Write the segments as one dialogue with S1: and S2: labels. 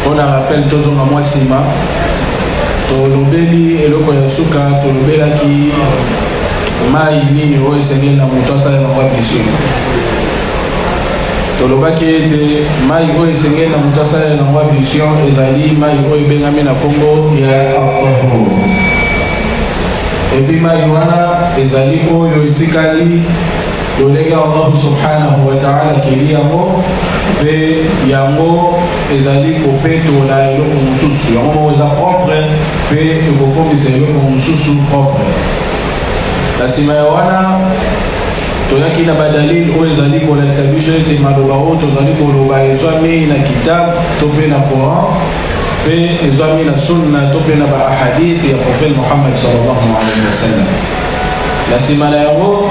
S1: mpo na rappel tozonga mwa nsima tolobeli eloko ya suka tolobelaki mai nini oyo esengeli na moto asala na mwa blessure tolobaki ete mai oyo esengeli na moto asala na mwa blessure ezali mai oyo ebengami na nkombo ya alcohol epi mai wana ezali oyo etikali Lolenge ya Allah subhanahu wa ta'ala keli yango mpe yango ezali kopetola eloko mosusu yango moko eza propre mpe ekokomisa eloko mosusu propre na nsima ya wana toyaki na badalile oyo ezali kolakisa biso ete maloba oyo tozali koloba ezwami na kitabe to mpe na coran mpe ezwami na sunna to mpe na baahadith ya profete mohammad sallallahu alaihi wasallam Na nsima na yango,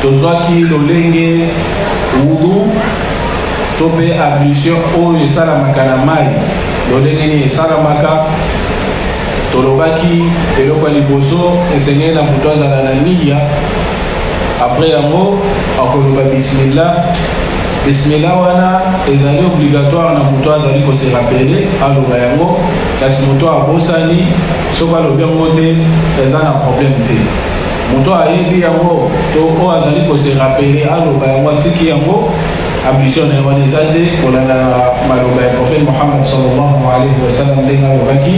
S1: tozwaki lolenge wudu to mpe ablution oyo esalamaka na mai. Lolenge nini esalamaka? Tolobaki eloko ya liboso, esengeli na moto azala na niya. Apres yango, akoloba bismillah. Bismillah wana ezali obligatoire na moto azali koserapele aloba yango, kasi moto abosani soki alobi yango te eza na problème te moto ayebi yango to oyo azali kose rapele aloba yango atiki yango ablution na ye wana eza te kolanda maloba ya prophète mohamad sallallahu alaihi wasallam ndenge alobaki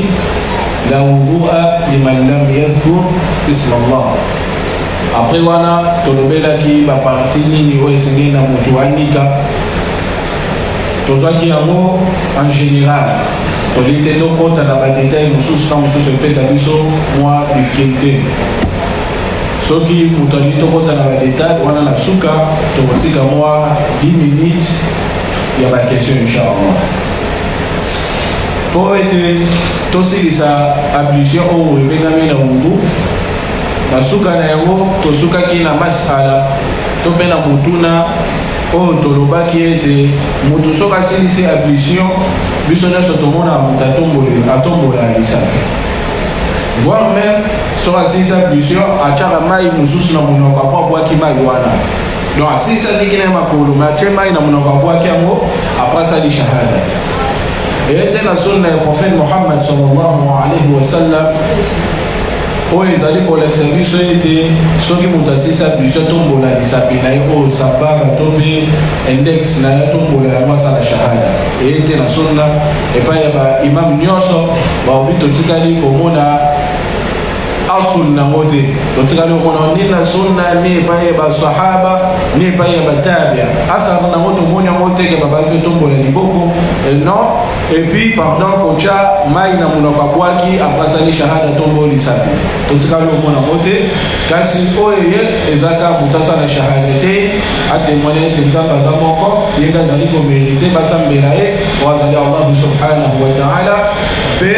S1: la wudua liman lam yadhkur isma allah après wana tolobelaki baparti nini oyo esengeli na moto anika tozwaki yango en général tolingi te tokɔta na badetail mosusu na mosusu epesa biso mwa difficulté soki moto alingi tokɔta na badetail wana na suka tokotika mwa 10 minutes ya baquestion inchallah mpo ete tosilisa ablution oyo ebengami na mungu na suka na yango tosukaki na masala to mpe na motuna Oyo tolobaki ete moto soki asilisi ablution, biso nyonso tomonaka moto atombolela atombola lisapi voir meme soki asilisi ablution atyaka mai mosusu na monoko apo abwaki mai wana donc asilisi andiki na ye makolo me atye mai na monoko abwaki yango apres asali shahada eye te na sunna ya prophète mohammed sallallahu alaihi wasallam oyo ezali kolakisa biso ete soki moto asilisi ablution tombola lisapi na ye oyo sabara to mpe index na ye tombola yango asala shahada eye te na sunna epai ya baimame nyonso baobi totikali komona asul nango te totikali komona ni na sunna ni epai ya basahaba ni epai ya batabia asar nango tomoni yango teke babaki tombola liboko eh, non Et puis pendant kocha mai na munoko abwaki apasani shahada tombo lisapi totikali omona yango te kasi oyo eye ezaka moto asala shahada te atemoine ete nzambe aza moko ye nde azali komerite basambela ye po azali allahu subhanahu wa taala mpe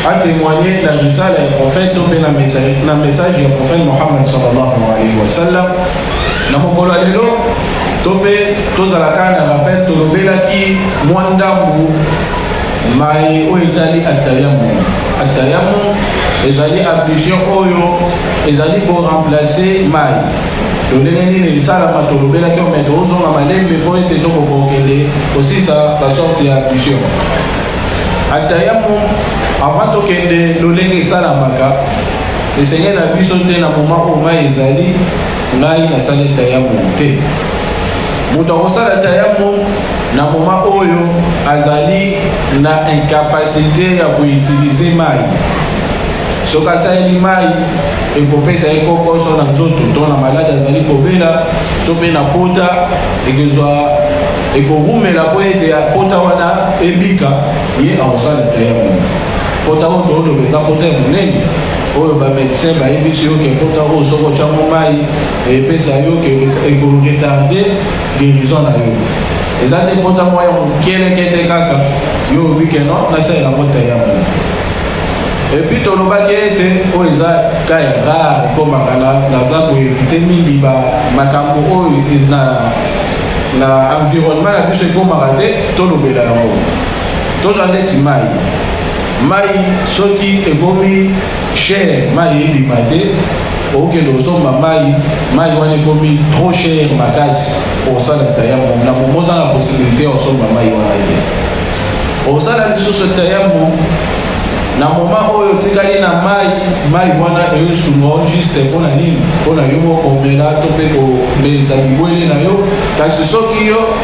S1: atemoigne na risala ya prophète to mpe na message ya prophète mohammed sallallahu alaihi wasallam Na mokolo ya lelo to mpe tozala kaka na rappel, tolobelaki mwa ndambo maye oyo etali atayamu. Atayamu ezali ablution oyo ezali ko remplacer mai lolenge nini esalama tolobelaki ome tozonga malembe mpo ete tokokokende kosisa basorte ya ablution atayamu avant tokende lolenge esalamaka Esengeli na biso te na moma oyo mai ezali ngai nasali tayamo te moto akosala tayamo na moma oyo azali na incapacité ya koutilize mai soki asaleli mai ekopesa ye kokoso na nzoto to na maladi azali kobela to mpe na pota ekozwa ekowumela mpo ete pota wana ebika ye akosala tayamo Pota oyo toloba eza pota ya monene oyo bamedecin bayebisi yo ke pota oyo soki otyango mai epesa yo ke ekoretarde guérison na yo eza te pota mwa ya mokelekete kaka yo obi ke non nasalela mota ya mo epuis tolobaki ete oyo eza ka ya rare ekomaka naza koevite mingi makambo oyo na environnement na biso ekomaka te tolobela yango tozwa ndeti mai mai soki ekomi cher mai ebima te okende kozomba mai mai wana ekomi trop cher makasi osala tayamo na momo oza na possibilité ya kosomba mai wana te osala lisusu tayamo na moma oyo otikali na mai mai wana eyosunga o juste mpo na nini mpo na yo mokomela to mpe kobelisa bibwele na yo kasi soki yo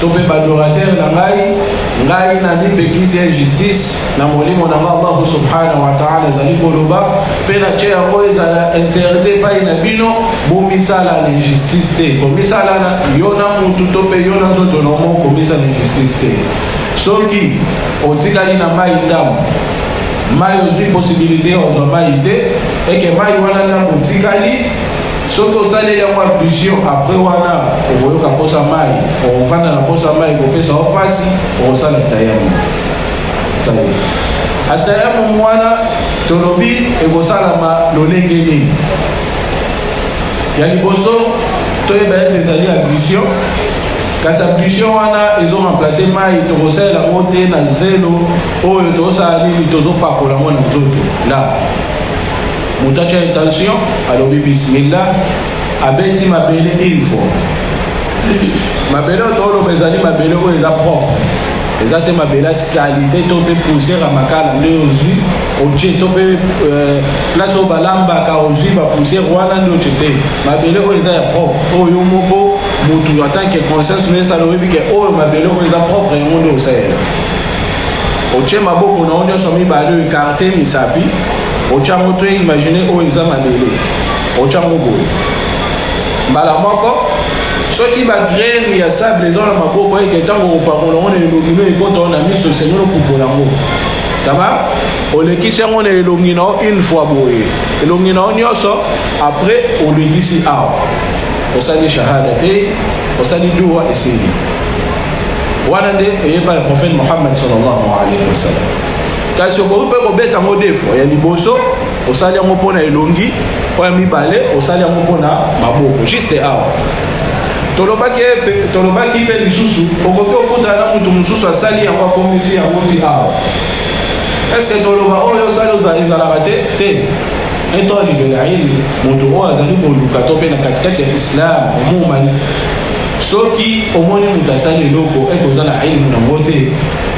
S1: to mpe badoratere na ngai ngai namipekisi ya justice na molimo na ngai allahu subhanahu wataala ezali koloba mpe natye yango ezala interdit epai na bino bomisalana injustice te komisalana yo na mutu to mpe yo na nzoto na omo komisala injustice te soki otikali na mai ndambo mai ozwi posibilité ozwa mai te eke mai wana ndambo otikali Soki osaleli yango ablution apres wana okoyoka mposa mai, okofanda na mposa mai ekopesa yo mpasi, okosala tayamu. Atayamu wana tolobi ekosalama lolenge nini? Ya liboso toyeba ete ezali ablution, kasi ablution wana ezo remplace mai, tokosalela yango te na zelo oyo tozosala nini, tozopakola yango na nzoto la Moto atya intention alobi bismillah abeti mabele une fois mabele oyo tooloba ezali mabele oyo eza propre eza te mabele ya salite to mpe poussière ya makala nde ozwi otie to mpe euh, place oyo balambaka ozwi bapoussière wana nde otie te mabele oyo eza ya propre oyo yo moko motu en tant que conscience no esala oyebi ke oyo mabele oyo eza propre yango nde osalela otie maboko na yo nyonso mibale oyo ekarte misapi otya yango to imagine oyo eza mabele otya yango boye mbala moko soki bagrene ya sable eza na maboko eke ntango kopakola yango na elongi no ekota na miso esengi lopupola yango taba olekisi yango na elongi na yo une fois boye elongi na yo nyonso après olekisi awa osali shahada te osali duwa esili wana nde eyepa ya prophète mohammed sallallahu alaihi wasallam kasi okoki mpe kobeta yango defo ya liboso osali yango mpo na elongi mpo ya mibale osali yango mpo na maboko juste awa tolobaki tolobaki mpe lisusu okoki okutana na moto mosusu asali yango akomisi yango ti awa estce toloba oyo osali ezalaka te te etoli lelaili moto oyo azali koluka to mpe na katikati ya islam omumani soki omoni moto asali eloko ekozala elimu nango te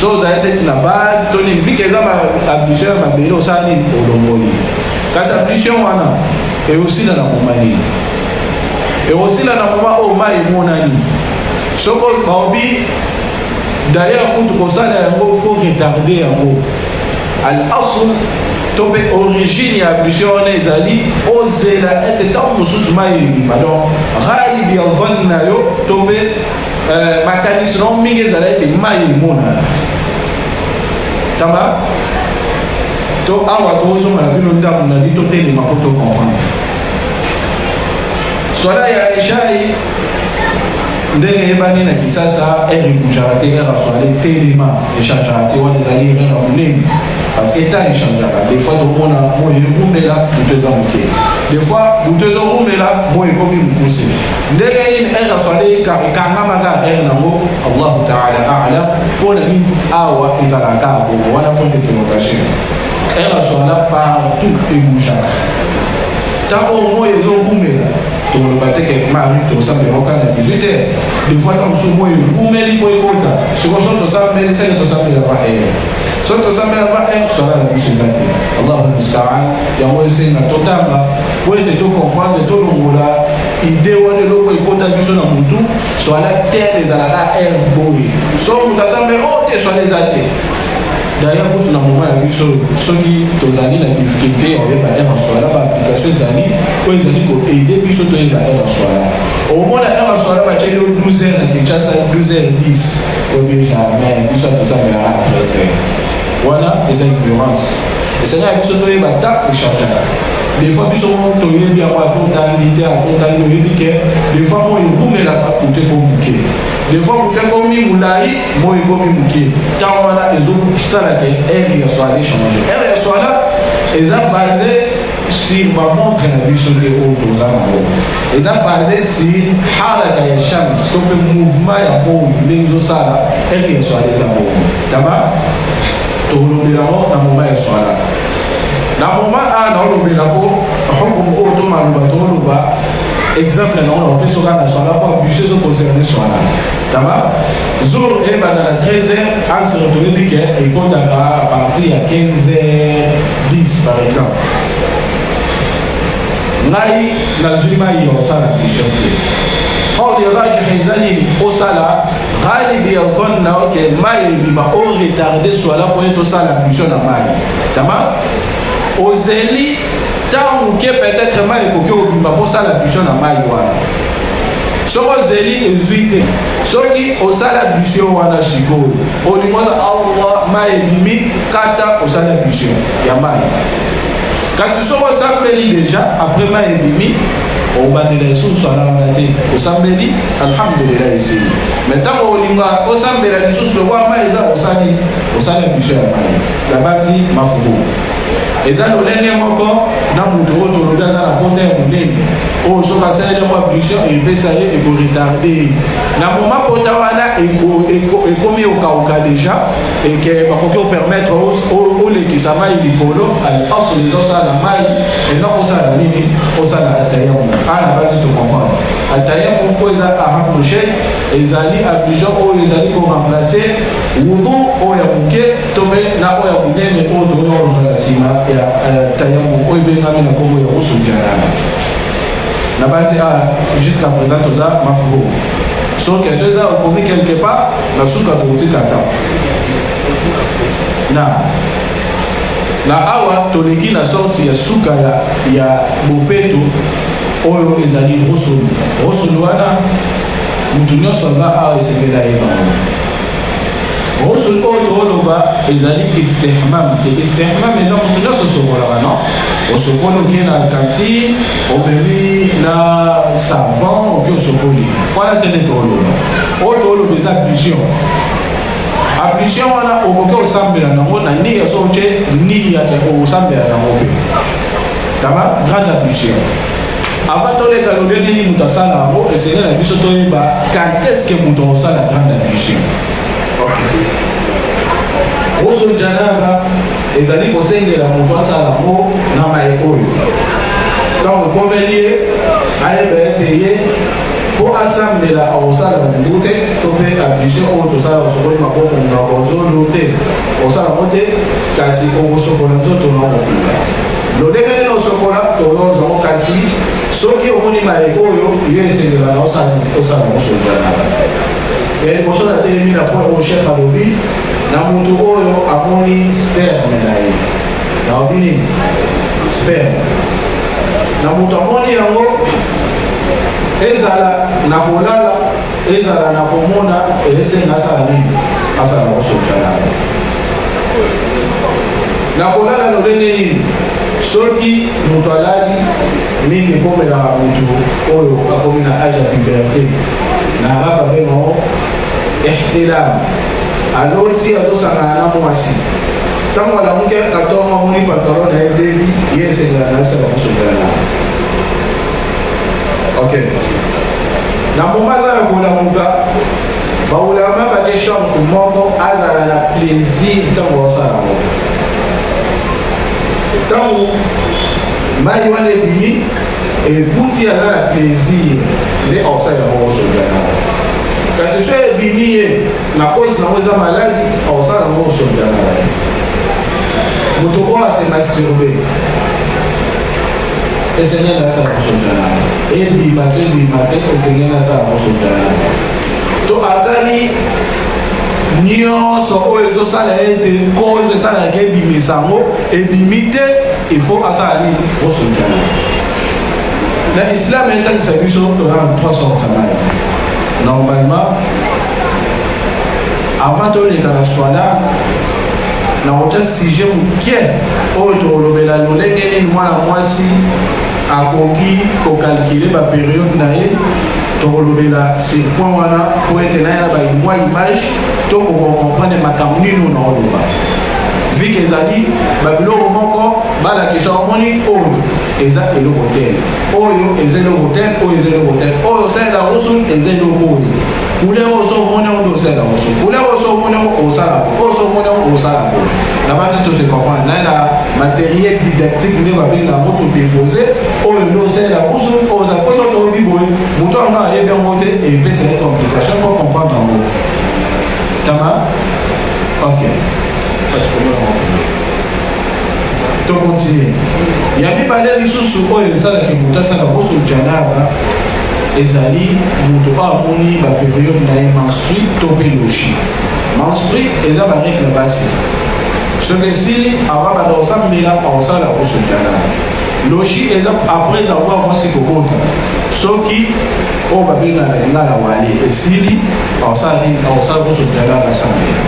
S1: Chose aye ndeti na bag to nini vike eza ba ablution ya mabele osala nini olongoli kasi ablution wana eosila na moma nini eosila na moma oyo mai emonani soko baobi d'ailleurs kutu kosala yango fo retarde yango al asl to mpe origine ya ablution wana ezali ozela ete ntango mosusu mai ebima donc ghalibi ya vani na yo to mpe Eh, makanisi na mingi ezala ete mai emonana tama to awa tozonga na bino ndambo na bino totelema mpo tokomprendre swala ya eshai ndenge eyebani na kisasa ere ebujaka te ere aswale telema echangeaka te wana ezali ere na monene parce que temps echangeaka des fois tokomona moyo ekumela moto eza moke des fois moto ezorumela moyo ekomi mokuse ndenge nini ere afali ekangamaka ere nango allahu taala alam mpo na nini awa ezalaka bongo wana mpo nde prolongation ere azwala partout ebujaka ntango moi ezobumela tokoloba te ke mari tosambela okanga 18 heure des fois ntango mosusu moi ebumeli mpo ekota siko so tosambeli seke tosambela va ere so tosambela va ere swala na biso eza te allahu mustaan yango esenga totanga mpo ete to comprendre tolongola ide wana eloko ekota biso na mutu swala tel ezalaka r boye so moto aza mpe o oh, te swala eza te d'ailleurs kutu na moma ya biso soki tozali na difficulté ya koyeba r swala baapplication ezali oyo ezali koaide biso toyeba r swala omona r swala batyeli o 12 heures na kinshasa 12 heures 10 obi jamais biso atosamelaka na 13 heures wana eza ignorance esengaka biso toyeba ta echargeaka Des fois biso moko toyebi yango ata otangi te ata otangi oyebi ke des fois moi ekumelaka moto eko moke des fois moto ekomi molai moi ekomi moke ntango wana ezosala ke aire ya soire echange aire ya soire eza base sur bamontre na biso nde oyo toza nango eza base sur halaka ya chance to mpe mouvement ya moi ndenge ezosala aire ya soire eza bongo taba tokolobela yango na moma ya soire na moment a naolobela mpo hukumu oyo to maloba tooloba exemple na ona opeso kaka na swala mpo abuse ezo concerne swala tama jour ebanda na 13 heures anse toyebi ke ekotaka à partir ya 15 heures 10 par exemple ngai nazwi mai ya osala mission te hors de rage eza nini osala Hali Biafon na ok mai ebima o retarde swala mpo ete osala mission na mai tama ozeli ntango moke peut-être mai ekoki obima mpo osala mission na mai wana soki ozeli ezwi te soki osala mission wana sikoyo olingi oza awa mai ebimi kata osala mission ya mai kasi soki osambeli deja après mai ebimi obandela lisusu alanga te osambeli alhamdulillah esili me ntango olinga osambela lisusu lokola mai eza osali osali biso ya mai labati mafuku eza lolenge moko na moto oyo tolobi aza na pota ya monene oyo soki asaleli yango abduction epesa ye ekoretarde ye na moma pota wana ekomi okauka deja et que bakoki opermettre olekisa mai likolo alpance les osala na mai ena osala nini osala altayamo ana bati tocomprendre altayamo mpo eza arapproche ezali ablution oyo ezali koremplace wudu oyo ya moke to mpe na oyo ya monene oyo tokoki kozwa na nsima ya altayamo oyo ebengami na nkombo ya kosokianana na bati a jusqu'à présent toza mafubo so question eza okomi quelque part Na suka totika ta na na awa toleki na sorti ya suka ya, ya bopeto oyo ezali rosoni rosoni wana moto nyonso aza awa esengeli ayeba rosoni oyo tooloba ezali istihmam te istihmam eza moto nyonso osokolaka no osokoli oke na kantine omemi na savon oke osokoli wana te nde tooloba oyo toloba eza ablution ablution wana okoki osambela nango na niya so otye niya te okosambela nango mpe tama grande ablution avant toleka lolenge nini moto asala yango esengeli na biso toyeba kanteske moto akosala grande ablution oso janaba ezali kosengela moto asala yango na mai oyo ntango ekomeli ye ayeba ete ye mpo asambela akosala mbu te to mpe abuse oyo tosala osokoli maboko monoko ozolu te osala yango te kasi okosokola nzoto na okokunda lolenge nini osokola toyozwa yango kasi soki omoni maye oyo yo esengelaka osala osala yango sokolanaka ya liboso natelemi na point oyo chef alobi na moto oyo amoni sperme na ye naobi nini sperme na moto amoni yango ezala na kolala ezala na komona esenga asala nini asala kosokana na kolala lolenge nini soki moto alali mingi ekomelaka moto oyo akomi na age ya puberte na araba bengo ihtilam aloti azosangana na mwasi ntango alamuki atongo amoni pantalon na ye bebi ye esengela na asala kosokana ok na moma aza na kolamuka baulama batie short moko azala na plaisir ntango osala yango ntango mai wana ebimi ebuti aza na plaisir nde osala yango osoliana kasi so ebimi ye na kosi nango eza maladi osala yango osoliana moto oyo asemasturbe Esengeli asala kosondana ebima to ebima te, esengeli asala kosondana to asali nyonso oyo ezosala ete kozo esalaka ebimisa yango ebimi te ifo asala nini kosondana na islam etangisa biso tozala na 3 sorte ya maye normalement Avant toleka na swala nakotya sujet moke oyo tokolobela lolenge nini mwana mwasi akoki kokalkile baperiode na ye tokolobela sur point wana mpo ete naye na baimwa image tokoka comprendre makambo nini oyo naoloba vike ezali babiloko moko balakisa omoni oyo eza eloko te oyo eza eloko te oyo eza eloko te oyo osalela rusul eza eloko oyo ule oso omoni yango nde osalela oso ule oso omoni yango osala oso omoni yango osala ngo na bandi tose comprendre naye na matériel didactique nde babenga yango todepose oyo nde osalela oso oza poso toyebi boye moto yango ayebi yango te epesa ye complication po comprendre yango tama ok tokontinue ya mibale lisusu oyo esalaki moto asala boso janaba ezali moto oyo amoni baperiode na ye menstri to mpe loshi menstri eza baregle basi soki esili avant banda kosambela akosala kosutana loshi eza après avoir mwasi kobota soki oyo babengana na lingala wale esili akosala nini akosala kosutana basambela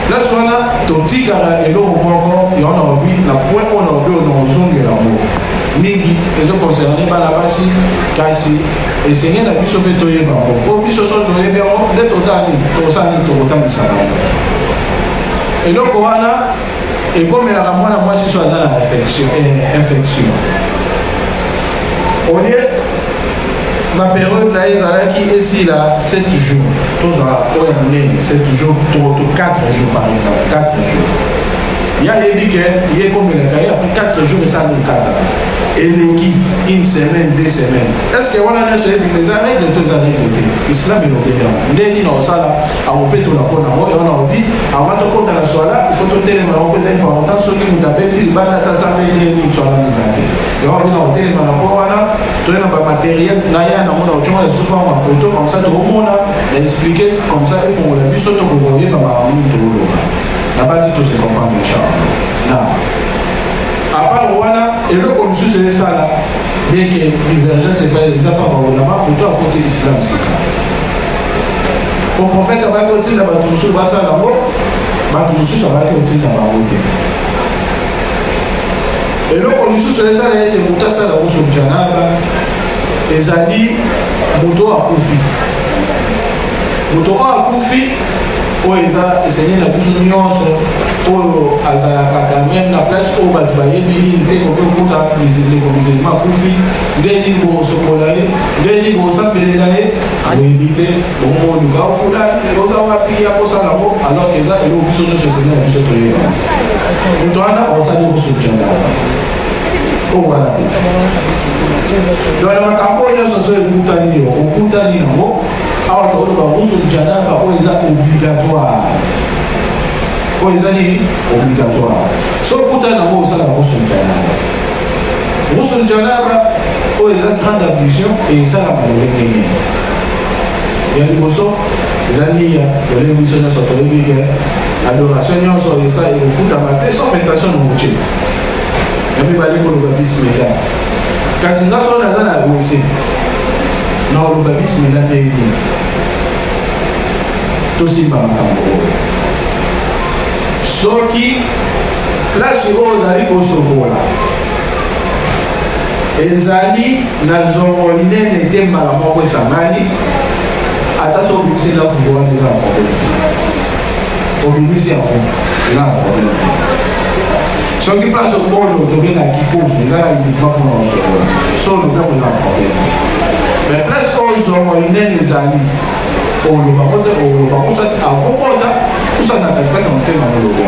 S1: place wana totikaka eloko moko yango na lobi na point oyo na lobi oyo na kozongela yango mingi ezo concerne bana basi kasi esenge na biso mpe toyeba yango mpo biso so toyebi yango nde totala nini tokosala nini tokotangisa bango eloko wana ekomelaka mwana mwasi so aza na infection eh, olie baperiode na ye ezalaki esila 7 jours tozwa oyo ya monene 7 jours to 4 jours par exemple 4 jours ya yebi ke ye ekomelaka ye après 4 jours esa mikata eleki une semaine deux semaines est ce que wana nyonso ebima eza règle to eza règle te islam elobeli yango nde nini osala akopetola mpo na yango ewana obi avant tokota na swala ifo totelema yango mpenza important soki moto abeti libanda ata samba ede nini swala miza te yango abina kotelema na mpo wana toye na bamateriel na ya na mona otyonga lisusu yango mafoto comme ça tokomona na explike comme ça efongola biso tokokoyeba makambo nini tokoloba nabati tous de comprendre inchallah na apart wana eloko mosusu esala yeke divergence ebale eza mpa baolama moto akoti islam sika po profete abaki kotinda bato mosusu basala yango bato mosusu abaki kotinda bango te eloko lisusu esala ete moto asala kusu janaba ezali moto akufi moto oyo akufi oyo eza esengeli na biso nyonso oyo azalaka quand même na place oyo bato bayebi nini te koki okuta ndeko musulma akufi nde nini bokosokola ye nde nini bokosambelela ye oyebi te bomoluka ofula oza wapi ya kosala ngo alors eza eloko biso nyonso esengeli na biso toyeba moto wana osali kosujana oyo wana donc na makambo oyo nyonso so ekutani yo okutani yango awa tokoloba ghusl janaba oyo eza obligatoire oyo eza nini obligatoire so okuta nango osala ghusl janaba ghusl janaba oyo eza grande ablution esalaka lolenge nini ya liboso eza niya lolenge biso nyonso toyebi ke adoration nyonso esa ekofutama te sauf intention na motie ya mibale koloba bismillah kasi nga soki naza na wese naoloba bismila mpe edina tosimba makambo oyo soki place oyo ozali kosokola ezali na zongo linene te mbala moko esangani ata so obimisi ndaku wana eza na probleme te obimisi yango eza na probleme te soki place okolo otomi na kikofu ezala uniquement mpona kosolola so olobi akozala problème mais place oyo zongo inene ezali oloba kote oloba kosati avokota kosala na katikati ya motema molobo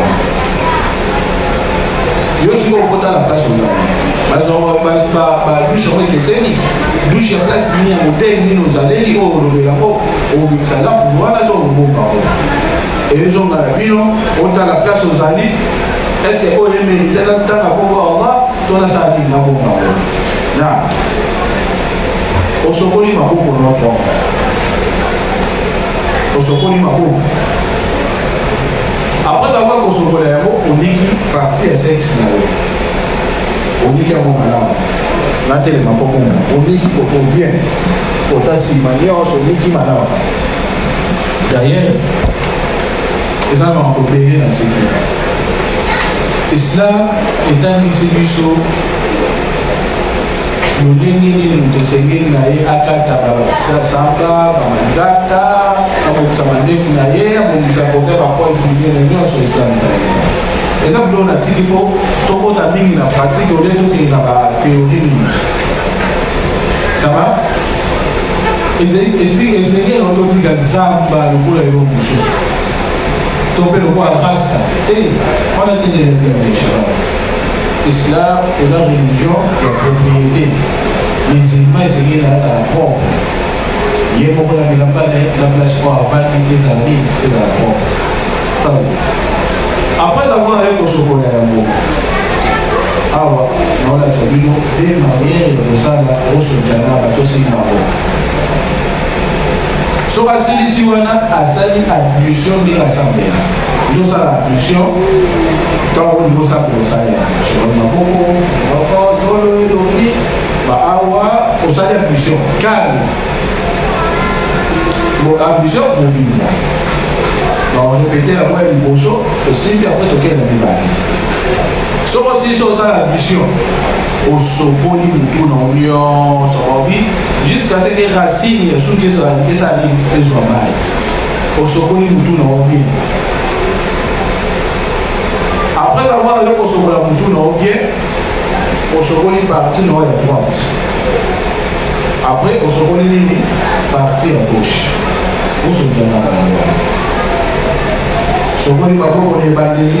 S1: yo soki ofota na place ozali badushe yango ekeseni dushe ya place nini ya moteli nini ozaleli oyo olobela yango obimisa lafu wana to obomba yango ezonga na bino otala place ozali est ce que oyo emerite na ntanga bongo allah to nasala nini na bongo yango na osokoli maboko na prof osokoli maboko apres tango akosokola yango oniki parti ya sexe na yo oniki yango malamu natelema komona oniki koko bien kota nsima nyonso oniki malamu d'ailleurs eza na makambo ebele na tiki esila etangisi biso lolenge nini moto esengeli na ye akata basasamba bamanzaka abongisa mandefu na ye abongisa kote bapoint minene nyonso esila etangisi eza biloko na tiki mpo tokota mingi na pratike olie tokende na bateori mingi taba esengeli yango totika zamba lokola yo mosusu to mpe lokola rasta te wana tendeeaa islam eza religion ya propriété musulman esengeli na yaka na propre ye moko na bilamba na ye na place oyo avandi ezala nini ezala propre ntango après avoir ye kosokola yango awa naolakisa bino Pe maniere ya kosala o sultana batosi bango. Soki asilisi wana asali ablution ndenge asambela. Yo sala ablution tango olingi osambela osali ablution maboko moko zolo elongi ba awa osali ablution kani bo ablution mobimba baorepete yango ya liboso osimbi apre tokende mibale soki osilisi osala admission osokoli mutu na nyonso babi jusqu'à ce que racine ya suki esali ezwa mai osokoli mutu na yo bien après avoir yo kosokola mutu na yo bien osokoli parti na yo ya droite après osokoli nini parti ya gauche osokianaka na yo sokoli bakoko na ebandeli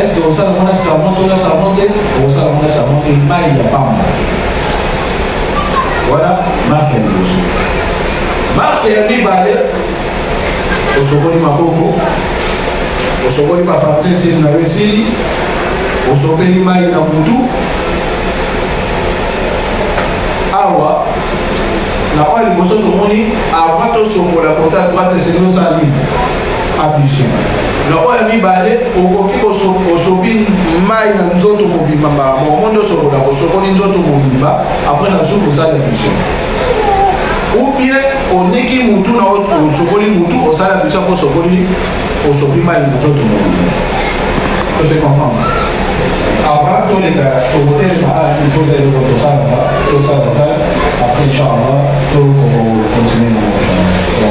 S1: Est-ce que okosala yango na savon to na savon te okosala yango na savon te mai ya pamba wana marke ya liboso marke ya mibale osokoli maboko osokoli bapartentile na yo esili osopeli mai na mutu awa na oyo liboso tomoni avant tosokola kota droite esengeli osala nini Abusé. Na oyo ya mibale, okoki osopi mai na nzoto mobimba mbala moko. Omonde osokola, osokoli nzoto mobimba, apres na zuku osala abusé. Ou bien oniki mutu na osokoli mutu, osala abusé mpo osokoli, osopi mai na nzoto mobimba. Ose comprendre? Avant toleka tokotelema awa toza eloko tosalaka tosalaka après inchallah tokokontinue na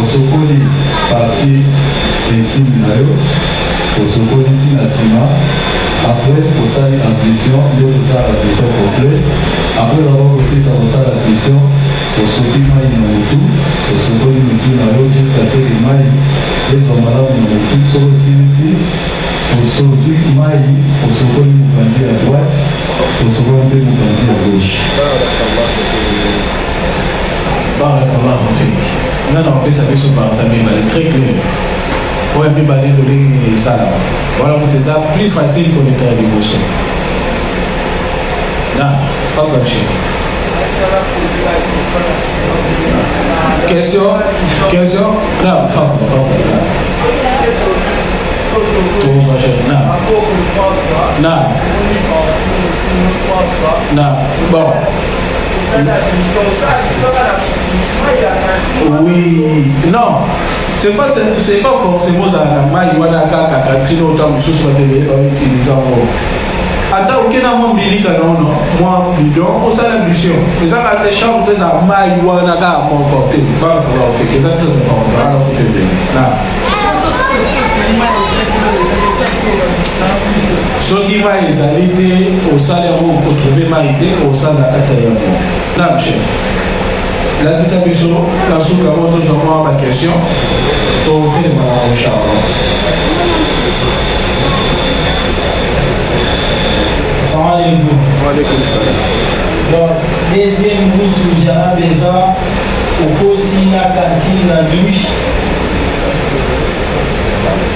S2: Osokoli parti intime na yo, osokoli ti na sima, après osali ablution nde okosala ablution complet, après oza ko kosilisa kosala ablution, osopi mayi na mutu, osokoli mutu na yo jusqu'à ce que mayi ezwa malamu na mutu, soki osilisi osopi mayi, osokoli mupanzi ya droite, osokoli mpe mupanzi ya gauche.
S1: Bana mama mfiki nga na kopesa biso banza mibale très clair oyo mibale lolenge nini esalama wana moto eza plus facile koleka ya liboso na fabrage question question na fafa tozwa jeune na na na bon Oui, non. C'est pas, c'est pas forcément ça la maille, voilà, kaka, katino, autant de choses, mais tu vas utiliser en gros. ata okenda mwa mbilika na ono mwa bidon osala mission ezaka te chambre te eza mai wana kaka moko te bana kola ofeke eza très important wana fote ndenge na Soki mai ezali te, osali yango okotrouve mai te, osala ata yango. Namche, lakisa biso na suka yango tozwa mwa bakestion totelema na mocharlo. Salaamaaleykum. Waaleykum salaam. Donc,
S3: deuxième brousse que j'avais besoin, au cours de la cantine, la douche,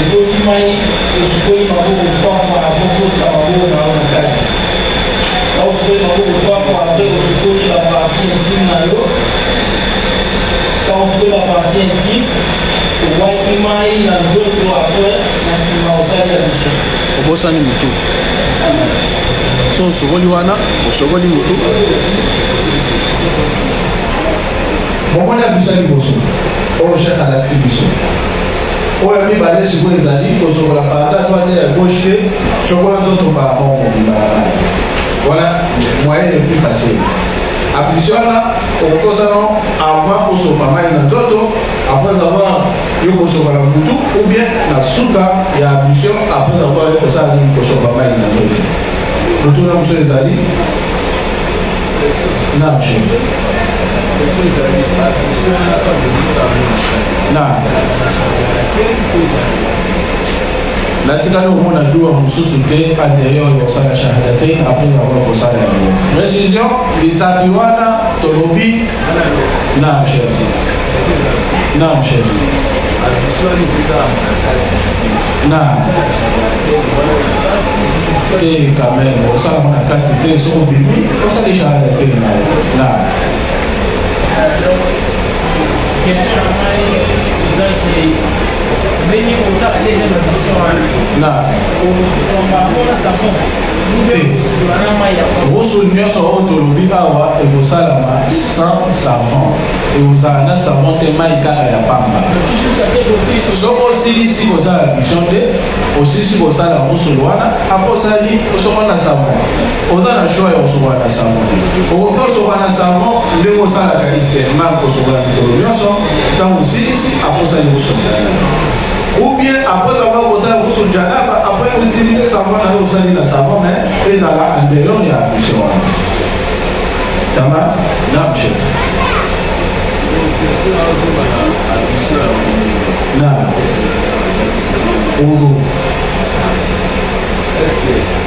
S3: Otoki mai, osukoli maboko trois fois avant okotisa maboko na yo na kati. Tango osukoli maboko trois fois après osukoli ba parties intimes na yo. Tango osukoli ba parties intimes, obwaki mai na nzoto après na sima osali ablution. Obosani mutu.
S1: So osukoli wana, osukoli mutu. Bomoni ablution liboso. Oyo chef alakisi biso. Oyo ya mibale sikoyo ezali kosokola parti ya droite ya gauche te, sokola nzoto mbala moko mobimba na mai. Wana moyen le plus facile. Application wana okokosa no avant osopa mai na nzoto après avoir yo kosopa na butu ou bien na suka ya application après avoir yo kosala nini kosopa mai na nzoto. Motuna mosusu ezali na mshe. na natikali komona dua mosusu te adeyo kosala shahadatain apres yango kosala yango précision lisabi wana tolobi na chef na chef na te quand même osalaka na kati te soki obimi osali shahadatain na na
S3: Question na ngai eza ke ndenge ozala deja na mission wana na okosuka mbango na
S1: savon okosukola na mai ya roso nyonso oyo tolobi awa ekosalama sans savon ekozala na savon te mai kaka ya pamba soki osilisi kosala mission te osilisi kosala roso wana aposali osoko na savon oza na choix ya kosokola na savon te okoki kosokola na savon ndenge osalaka istema kosokola mikolo nyonso ntango osilisi akosali kosokola ou bien après avoir kosala kusu janaba après utiliser savon na yo osali na savon mais ezala en dehors ya ablution wana tama na bje na ogo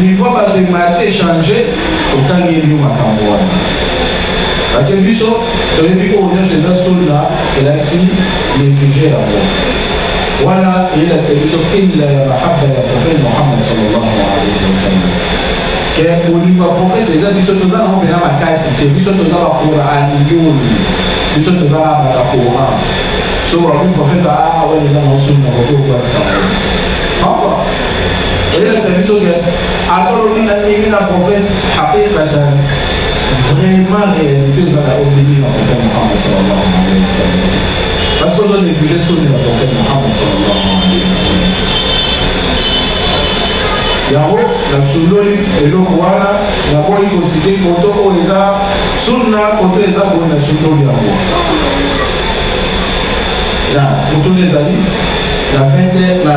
S1: Niveau bato emati echange, otangeli yo makambo wana. Parce que biso toyebi oyo nyonso eza solda elakisi neglige yango wana eyelakisa biso killa ya mahaba ya profete mohamad sallallahu alaihi wasallam ke bolingo ya profete eza biso toza nango mpena makasi te biso toza bakoraniyoni biso toza na baka koran so wakoki profete aa wana eza na osuni na koki okwakisa yango elakisa biso ke ata olobi na ndenge na prophète hakikatan vraiment réalité eza na ondimi na prophète mohamad sallallahu alaihi wasallam parce que ozo néglige soni na prophète mohamad sallallahu alaihi wasallam yango nasundoli eloko wana nakoki kosite koto oyo eza sunna koto eza boye nasundoli yango ya motuna ezali la fin de la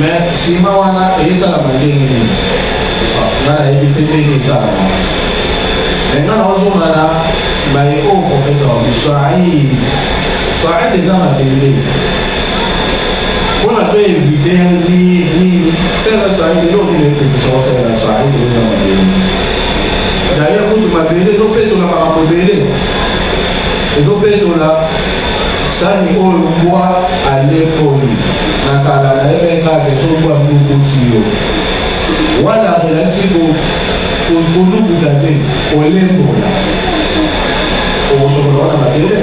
S1: me nsima wana esalama ndenge nini nga nayebi te ndenge esalama me nga naozonga na baye oyo profete wabi swaid swaid eza mabele mpona to evite nini sela swaid eloko nini epekisa osalela swaid eza mabele daye kutu mabele ezopetola makambo ebele ezopetola Sani oyo mbwa alekoli na kala na ye mpe kaka soki mbwa ndukuti yo wana amelaki konukuta te kolembola okosokola wana mabele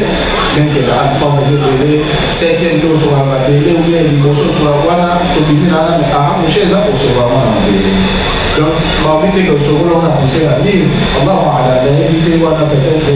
S1: lenkela alifama ebele septième nde osokola mabele oye liboso osokola wana tobimi na wana ahamoshe eza kosokola wana mabele donc baobi te ke osokola wana kosela nini allahu alam nayebi te wana peut-être